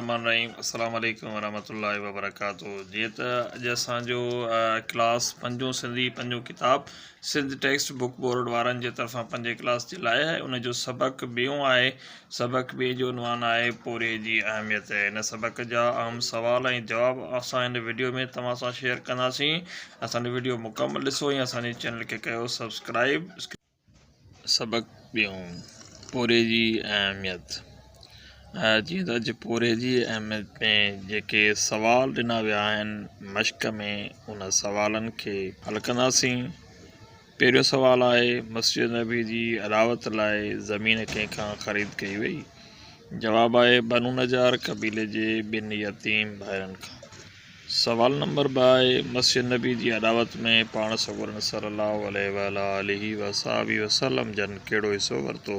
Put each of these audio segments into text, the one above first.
الرحمن الرحيم السلام عليڪم ورحمة الله وبرڪاته جي ته اڄ اسان جو ڪلاس پنجون سنڌي پنجون ڪتاب سنڌ ٽيڪسٽ بڪ بورڊ وارن جي طرفان پنجين ڪلاس جي لاء آهي ان جو سبق ٻيون آهي سبق ٻئي جو عنوان آهي پورهيي جي اهميت. هن سبق جا اهم سوال ۽ جواب اسان هن وڊيو ۾ توهان سان شيئر ڪنداسين. اسان جو وڊيو مڪمل ڏسو ۽ اسان جي چينل کي ڪيو سبسڪرائيب. سبق ٻيون، پورهيي جي اهميت. جيئن ته اڄ پورهيي جي اهميت ۾ جيڪي سوال ڏنا ويا آهن مشق ۾ ان سوالن کي حل ڪنداسين. پهريون سوال آهي مسجد نبوي جي اڏاوت لاء زمين ڪنهن کان خريد ڪئي وئي؟ جواب آهي بنو نجار قبيلي جي ٻن يتيم ڀائرن کان. سوال نمبر ٻه آهي مسجد نبوي جي اڏاوت ۾ پاڻ سڳورن صلّي اللّٰه عليه وعلٰي آله وصحبه وسلّم جن ڪهڙو حصو ورتو؟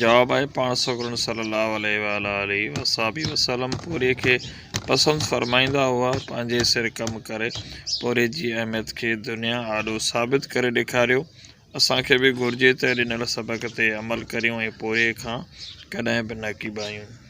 جواب آهي، پاڻ سڳورن صلّي اللّٰه عليه واٰله واصحٰبه وسلّم پوري کي پسند فرمائيندا هئا، پنهنجي سر ڪم ڪري پوري جي اهميت کي دنيا آڏو ثابت ڪري ڏيکاريو، اسان کي به گهرجي ته ڏنل سبق تي عمل ڪريون ۽ پوري کان ڪڏهن به نه ڪيٻايون.